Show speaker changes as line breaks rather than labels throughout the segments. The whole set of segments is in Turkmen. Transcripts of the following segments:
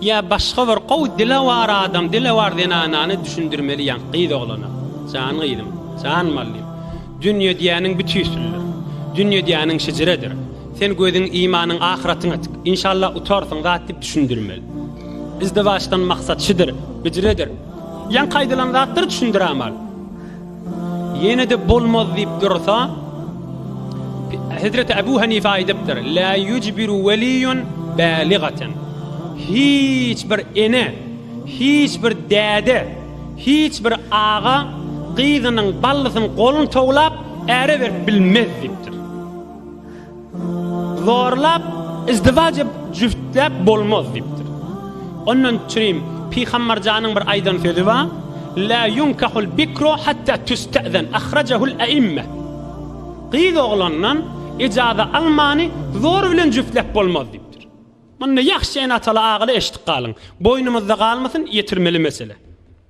Ýa başga bir gowy dilewar adam, dilewar zenanany düşündirmeli ýaňky gyz oglana. Jan gyzym, jan mallym. Dünýe diýýäniň bitüýsüldir. Dünýe diýýäniň şejeredir. Sen gözüň, imanyň ahyratyňa tik. Inşallah utarsyň zat diýip düşündirmeli. Izdiwaçdan maksat şudur, hüjredir. Ýaňky aýdylan zatlary düşündirämal. Ýene-de bolmaz diýip dursa, Hezreti Abu Hanife aýdypdyr, La yujbiru waliyun baligatan. Hiç bir ene, hiç bir däde, hiç bir aga gyzynyň ballysynyň goluny towlap, äre berip bilmez diýipdir. Zorlap, izdiwaç edip, jübtläp bolmaz diýipdir. Ondan çirim Pygamberjanyň bir aýdan sözi bar. La yunkahul bikru hatta tüstezen ahrajahul aimma. Gyz oglandan ijaza almany zor bilen jübtläp bolmaz diýip. Muny ýahşy ene-ataly agaly eşitip galyň. Boýnumyzda galmasyn, ýetirmeli mesele.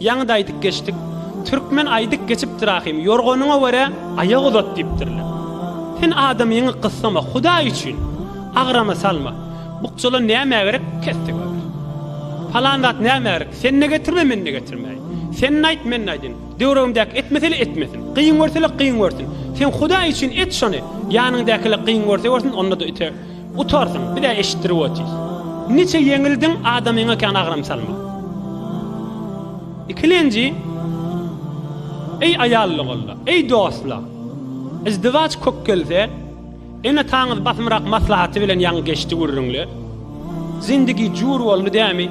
Ýaňy-da aýdyp geçdik. Türkmen aýdyp geçipdir ahym, Ýorganyňa görä, aýak uzat diýipdirler. Sen adamyňy gyssama, Hudaý üçin, agrama salma. Bukjalar nämä gerek, kes-de görer. Palan zat nämä gerek, sen-de getirme, men-de getirmäýin. Sen-de aýt, men-de aýdyn. Döwregimdäki etmese-le etmesin. Kyn görse-le kyn görsün. Sen Hudaý üçin et şony, ýanyňdaky-le kyn görse görsün, onda-da ite. Utarsyň, biz-ä eşitdirip otyrys. Niçe ýeňildiň, adamyňa kän agram salma. Ikilenji, Eý aýallygolla, eý dostlar! Yzdywaç kök gelse, ene-ataňyz basymrak maslahaty bilen ýaňy geçdi gürrüňler. Zindigi jur boldy dämi?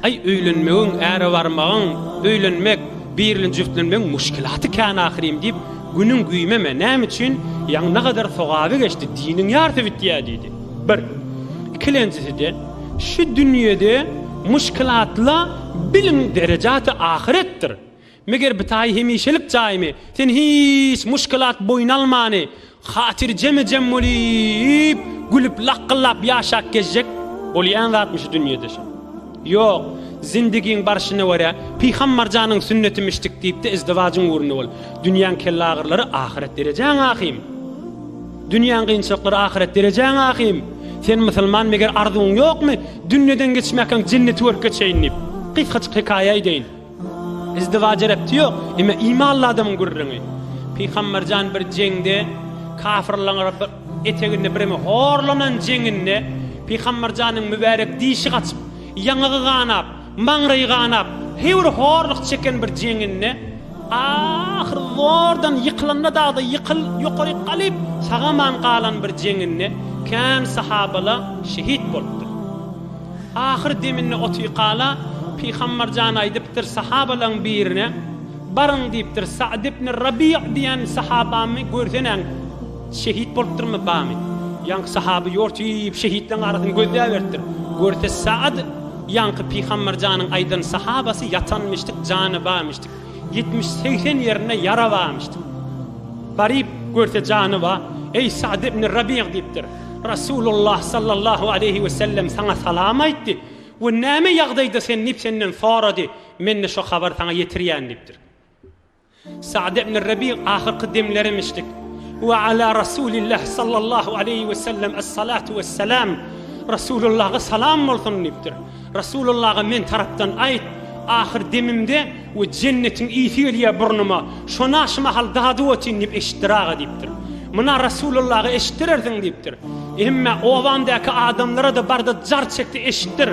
Aý öýlenmegiň, äre barmagyň, öýlenmek, birli jübtlenmegiň muşkilaty kän ahyrym diýip, günüň güýmeme, näme üçin, ýaňy ne gadar sogaby geçdi, diniň ýarsy bitýä diýdi. Bir. Ikilenjisi-de, şu dünýede muşkilatla biliň derejaty ahyretdir. Meger bitaýy hemişelik jaýmy? Sen hiç muşkilat boýun almany, hatyrjeme-jem bolýyp, gülüp lakgyllap ýaşap gezjek bolýan zatmy şu dünýede şo? Ýok, zindigiň barşyna görä, pyham-marjanyň sünnetimişdik diýip-de izdiwajyň ugrunda bol. Dünýäň kellaagyrylary ahyret derejäň ahym. Dünýäň gynçylyklary ahyret derejäň ahym. Sen musulman meger arzuwyň ýokmy, dünýeden geçmäkäň jenneti görüp geçeýin diýip. Gysgajyk hekaýa eýdeýin. Izdiwaja repti ýok. Eme imanly adamyň gürrüňi. Pygamberjan bir jeňde kafyrlaň eteginde birimi horlanan jeňinde Pygamberjanyň mübärek dişi gaçyp, ýaňagy ganap, maňraýy ganap, heýwir horluk çeken bir jeňinde ahyr zordan ýykylanda dagda ýykyl ýokaryk galyp sagaman galan bir jeňinde kän sahabala şehit bolupdyr. Ahyr deminde Otyykala Pygambar jan aýdypdyr sahabalaň birine, Baryň diýipdir, Sa'd ibn Rabi'a diýen sahabamy görseneň, şehit bolupdyrmy, bamy? Ýaňky sahaby ýortyp şehitleň arasyny gözläberipdir. Görse Sa'd ýaňky Pygambar janyň aýdan sahabasy ýatanmyşdyk, jany barmyşdyk. Ýetmiş, segsen ýerinde ýara barmyşdyk. Baryp görse jany bar. Eý Sa'd ibn Rabi'a diýipdir. Rasulullah sallallahu aleýhi we sellem saňa salam aýtdy we näme ýagdaýda sen diýip senden sorady, men-de şo habary saňa ýetirýän diýipdir. Sa'd ibn Rabi ahyrky demlerimişdik. Ve ala Rasulillah sallallahu aleyhi ve sellem es salatu ve selam. Rasulullah'a salam bolsun deyipdir. Rasulullah'a men taraftan ayt. Ahir demimde We jennetiň ysy gelýär burnyma, şona şu mahal dady otyn diýip eşitdir aga diýipdir. Muna Rasulullahy eşitdirersiň diýipdir. Hemme obamdaky adamlara-da barda jar çekdi eşitdir.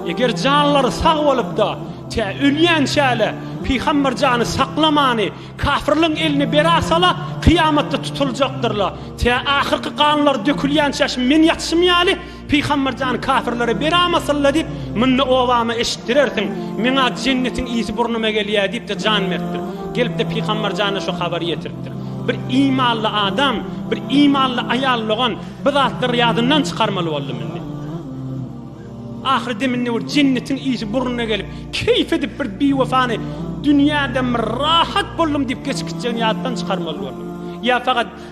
Eger janlary sag bolupda, tä ölýänçäle Pygamber jany saklamany, kafirliň eline bera sala kyýamatda tutuljakdyrla, tä ahyrky ganlary dökülýänçäşim men ýatşym ýaly Pygamber jan kafirlere beramasynla diýip munda obama eşitdirersiň meňa jennetiň ysy burnuma gelýä diýipde jan beripdir. Gelipde pygamber jana şu habary ýetiripdir. Bir imanly adam, bir imanly aýal dogan bu zatlary ýadyndan çykarmaly boldum indi. Ahyry deminde bir jennetiň ysy burnuna gelip keýp edip bir biwefany dünýäden bir rahat boldum diýip geçip gitjegini ýatdan çykarmaly boldum. Ýa fakat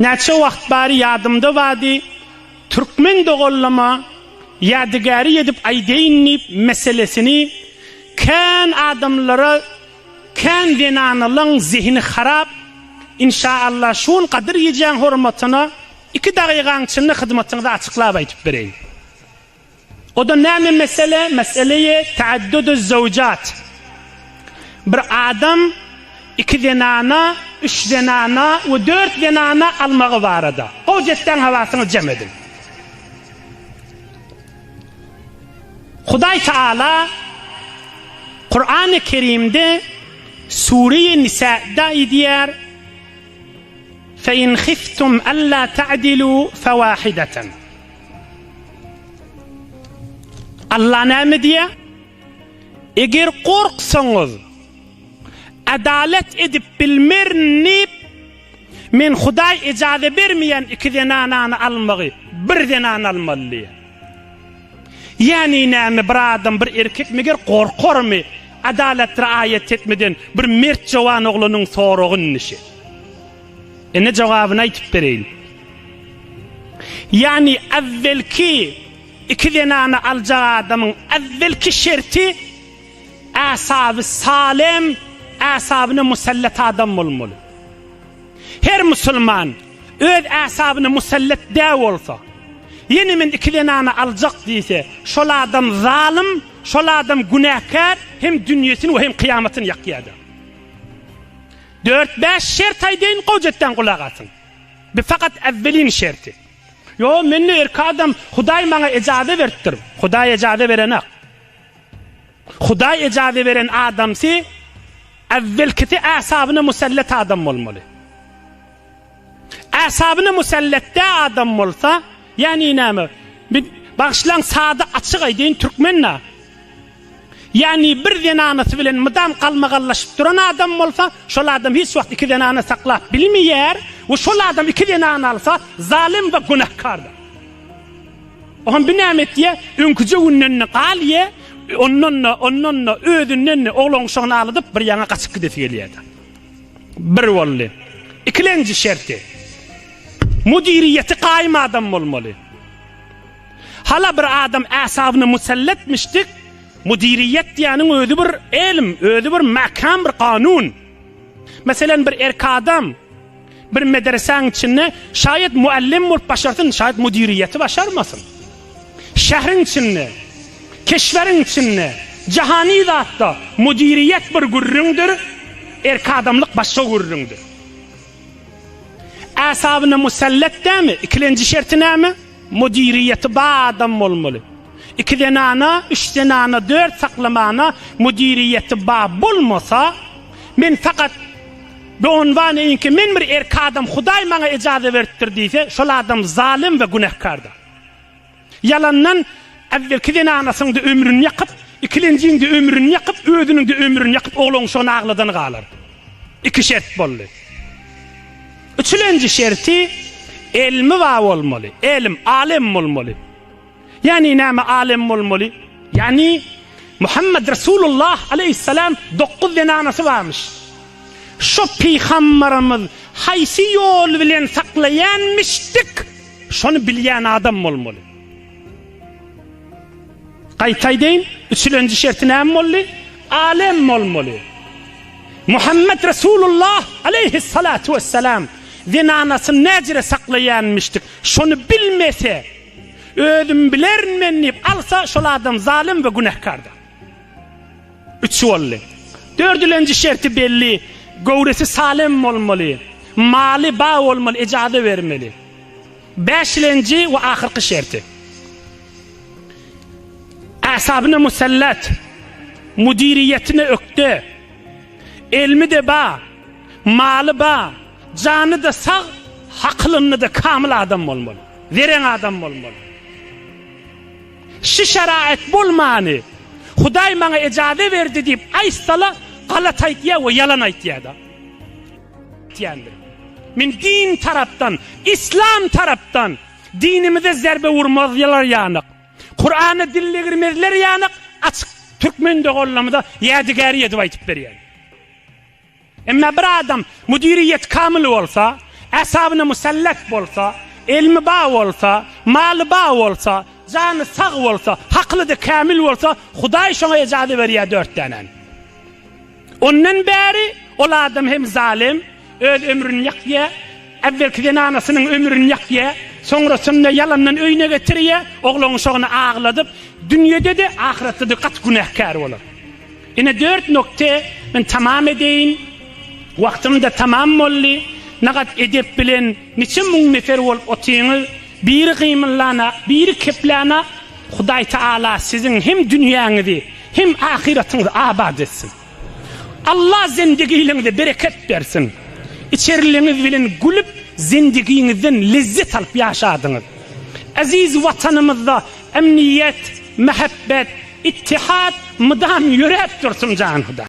Näçe wagt bari ýadymda bady, türkmen dogallama ýadygäri edip aýdaýyn diýip meselesini kän adamlara kän zenanalaň zehini harap inşa Allah şu gün gadyr gijäň hormatyna iki dagygaň içinde hyzmatyňyzy açyklap aýdyp bereýin. O-da näme mesele? Mesele-i te'adduduz-zawjat. Bir adam iki zenana, üç zenana we dört zenana almagy barada. Gowy jessäň hawasyňy jem ediň. Hudaý Taala Kurany Kerimde Sure-i Nisa'da aýdýar, Fe in hiftum alla ta'dilu fewahidatan. Allah näme diýýär? Eger gorksaňyz, adalat edip bilmerin diýip, men Hudaý ejaza bermeýän iki zenanany almagy, bir zenany almaly diýýär. Ýagny näme bir adam bir erkek meger gorkarmy adalat riaýat etmeden bir mert jowan oglanyň soragyny şe. Ine jogabyny aýtyp bereýin. Ýagny äwwelki iki zenany aljak adamyň äwwelki şerti äsaby salem, äsabyna musallat adam bolmaly. Her musulman öz äsabyna musallat dä bolsa, ýene men iki zenany aljak diýse, şol adam zalym, şol adam günäkär, hem dünýesini we hem kyýamatyny ýakýardyr. Dört-bäş şert aýdaýyn gowy jötdan gulak asyň. Bu fakat äwwelin şerti. Ýo men-de erki adam Hudaý maňa ejaze beripdir. Hudaý ejaze berenak. Hudaý ejaze beren adamsy äwwelkisi äsabyna musallat adam bolmaly. Äsabyna musallatda adam bolsa, ýani näme? Bi, bagyşlaň sada açyk aýdaýyn türkmenda. Ýani bir zenanasy bilen mydam galmagallaşyp duran adam bolsa, şol adam hiç wagt iki zenana saklap bilmeýär we şol adam iki zenana alsa zalym we günäkardyr. Ohan bi näme etýä? Öňküje günden-de galýä, ondan-da, ondan-da, özünden-de oglan-uşagyny alydyp bir ýana gaçyp gidesi gelýädi. Bir boldy. Ikilenji şerti. Müdiriýeti gaýym adam bolmaly. Hala bir adam äsabyna muselletmişdik. Müdiriýet diýäniň özi bir elm, özi bir mäkäm bir kanun. Meselem bir erk adam Bir medresäň içinde şaýat muallym bolup başarsyn, şaýat müdiriýeti başarmasyn. Şähriň içinde, keşweriň içinde, jahany zatda müdiriýet bir gürrüňdir, erk adamlyk başga gürrüňdir. Äsabyna musallat dämi, ikilenji şerti näme? Müdiriýeti bar adam bolmaly. Iki zenana, üç zenana, dört saklamana müdiriýeti bar bolmasa, men fakat Doňňanbaýyňky men bir erki adam Hudaý maňa ejaza beripdir diýse, şol adam zalym we günähkardyr. Ýalandan Äwwelki zenanasyň-da ömrüni ýakyp, ikilenjiň-de ömrüni ýakyp, özüniň-de ömrüni ýakyp oglanyşygyny agladany galar. Iki şert boldy. Üçülenji şerti, Elmi bar bolmaly. Elim, alem bolmaly. Ýani näme alem bolmaly? Ýani, Muhammet Resulullah aleýhissalam dokuz zenanasy barmyş. Şo pygambarymyz haýsy ýol bilen saklaýanmyşdyk, şony bilýän adam bolmaly. Gaýtaýdeýin, üçülenji şerti näme boldy? Alem bolmaly. Muhammet Resulullah aleýhissalatu wessalam zenanasyny näjere saklaýanmyşdyk, şony bilmese, özüm bilerin men diýip alsa, şol adam zalym we günähkardyr. Üç boldy. Dördülenji şerti belli, göwresi salem bolmaly,
maly ba bolmaly, ejaza bermeli. Bäşilenji we ahyrky şerti. Asabine musallat, müdiriýetine ökde, elmi-de ba, maly ba, jany-da sag, hakylynda-da kamyl adam bolmaly, zeren adam bolmaly. Şu şäraýat bolmany, Hudaý maňa ejaze berdi diýip aýtsala, galat aýtýar we ýalan aýtýar-da. Men din tarapdan, islam tarapdan dinimize zerbe urmazlar ýanyk, Kurana dil degirmezler ýanyk açyk türkmen doganlarymyza ýadygäri edip aýtyp berýän. Emma bir adam müdiriýeti kamyl bolsa, äsabyna musallat bolsa, elmi bar bolsa, maly bar bolsa, jany sag bolsa, hakyly-da kamyl bolsa, Hudaý şoňa ejazy berýär dört dänäni. Ondan bäri ol adam hem zalym, öz ömrüni ýakýar, äwwelki zenanasynyň ömrüni ýakýar, soňrasynda ýalandan öýüne getirýär, oglanuşagyny agladyp, dünýede-de, ahyretde-de gaty günäkär bolar. Ine dört nokta, men tamam edeýin, wagtym-da tamam boldy, nagat edep bilen niçe müň nefer bolup otyňyz, biri gymyllanok, biri keplänak, Hudaýtaala siziň hem dünýäňizi, Hem ahyratyňyzy abat etsin. Allah zendigiliňize bereket bersin. Içeriliňiz bilen gülüp zendigiňizden lezzet alyp ýaşadyňyz. Eziz Watanymyzda emniýet, mähebbet, ittihat mydam ýöräp dursun jan Hudaý.